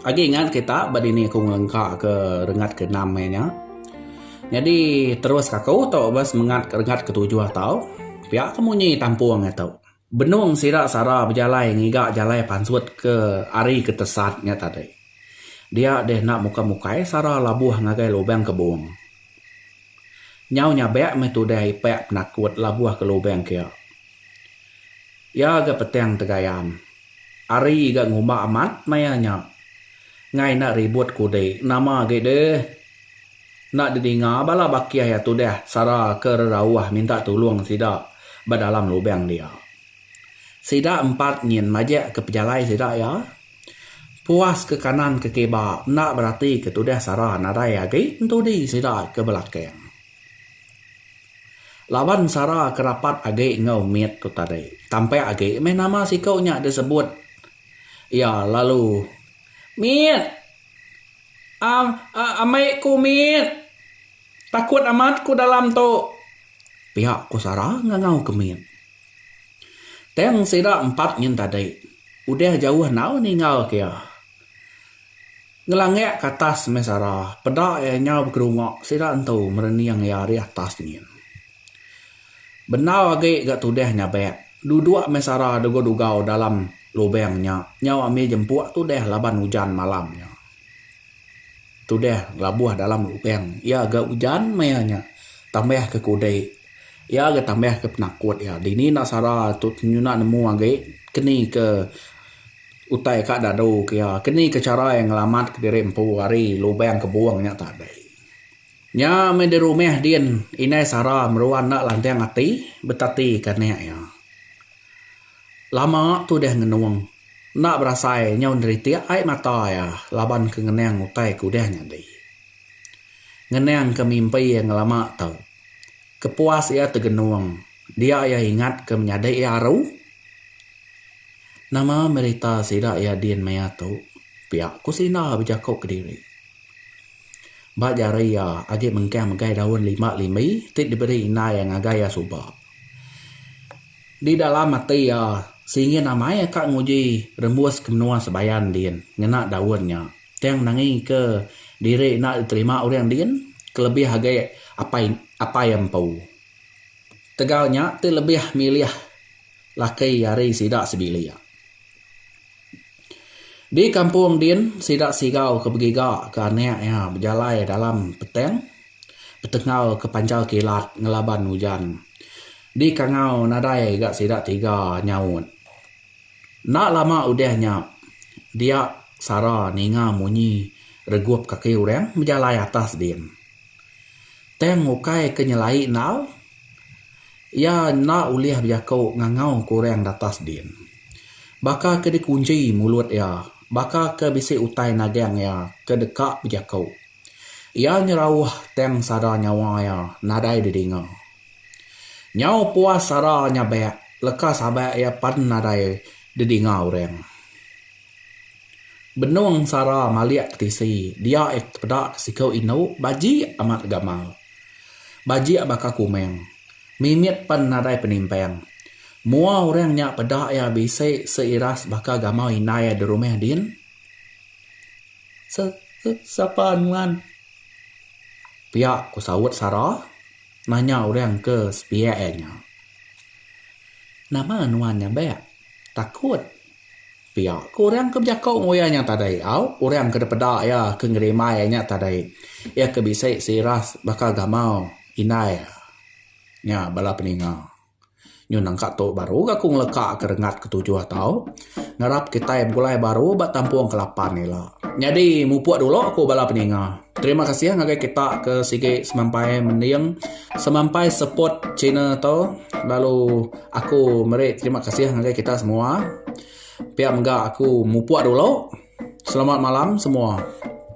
Agi ingat kita ba dini aku ngelengka ke rengat ke enam hari nya. Nyadi terus ka aku tu ba semengat ke rengat ke tujuh tu pia ke munyi tampung atu. Benung sida sara bejalai ngiga jalai pansut ke hari ke tesat nya tadi. Dia deh enda muka mukai sara labuh ngagai lubang kebung. Nyau nyabek meh tudah ipek penakut labuh ke lubang kia. Iya ga petang tegayan. Ari ga ngumba amat maya nya. Ngai enda ribut kudi. Nama agi deh. Enda didinga bala baki aya tudah sara ke rerauh minta tulung sida ba dalam lubang dia. Sida empat nyin majak ke pejalai sida iya. Puas ke kanan ke kiba enda berati ke tudah sara nadai agi entudi sida ke belakang. Laban Sara ke rapat agi enggau mit tu tadi, tampak agi meh nama siku nya disebut iya lalu Mit! Am, ambi ku mit! Takut amat ku dalam tu! pia ku Sara ngangau ke mit. Tang sida empat nyin tadi udah jauh enggau ninggalka iya. Ngelangak ke atas meh sara, peda iya nyau bekerunga sida entu merening iya ari atas nyin. Bendar agi ga tudah nyabak, duduk meh sara dugau-dugau dalam lubang nya nyau ambi jempuk tudah laban ujan malam nya. Tudah ngelabuh dalam lubang iya ga ujan maya nya tambah ke kudi iya ga tambah ke penakut iya. Dini enda sara tu nyuna nemu agi keni ke. Utai ka dadu ke iya, ke ni ke chara iya ngelamat ke diri empu ari lubang kebung nya tadi. Nya meh di rumah din, indai sara meruan enda lantang ati betati ke anak iya. Lama tudah ngenung, enda berasai nyau neritik ai mata iya laban ke ngenang utai ke udah nyadi. Ngenang ke mimpi iya ngelama tu. Kepuas iya tegenung dia iya ingat ke menyadi iya aru. Nama berita sida iya din maya tu pia ku sina bejaku kediri. Ba jari iya agi mengkang megai daun limba limbi ti diberi indai iya ngagai iya suba. Di dalam ati iya singin amai iya ka nguji rembus ke menua Sebayan din ngena daun nya. Tang nangika diri enda diterima orang din kelebih agi apai apai empu. Ketegal nya ti lebih milih laki ari sida sebilik. Di kampung din sida sigau ke begiga ke anak iya bejalai dalam petang betengal ke panjal kilat ngelaban ujan di kangau nadai ga sida tiga nyaut. Enda lama udah nya, dia Sara ninga munyi regup kaki orang bejalai atas din. Tang ukai ke nyelai endau, iya enda ulih bejaku ngangau ke orang di atas din. Baka ke dikunchi mulut iya, baka ke bisi utai nagang iya ke deka bejaku. Iya nyerauh tang sada nyawa iya nadai didinga. Nyau puas sara nyabak leka sabak iya pan nadai didinga orang. Benung sara malik ke tisi dia iya ke tepeda ke siku indu bajik amat gamal. Bajik baka kumang. Mimit pan nadai penimpang. Mua orang nya peda iya bisi seiras baka gamal indai iya di rumah din. Sapa nuan? pia ku saut sara. Nanya orang ke sepiak iya nya. Nama nuan nyabak? Takut. Pia ke orang ke bejako enggau iya nya tadi. Au, orang ke dipeda iya ke ngerimbai iya nya tadi. Iya ke bisi sirah baka gamal indai iya. Nya bala peninga. Nyau nangka tu baru ga aku ngeleka ke rengat ke tujuh tau. Ngarap kitai begulai baru ba tampung ke lapan ila. Nyadi mupuk dulu ku bala peninga. Terima kasih ngagai kita ke sigi semampai mending semampai support channel tu lalu aku meri terima kasih ngagai kita semua. Pia mega aku mupuk dulu. Selamat malam semua.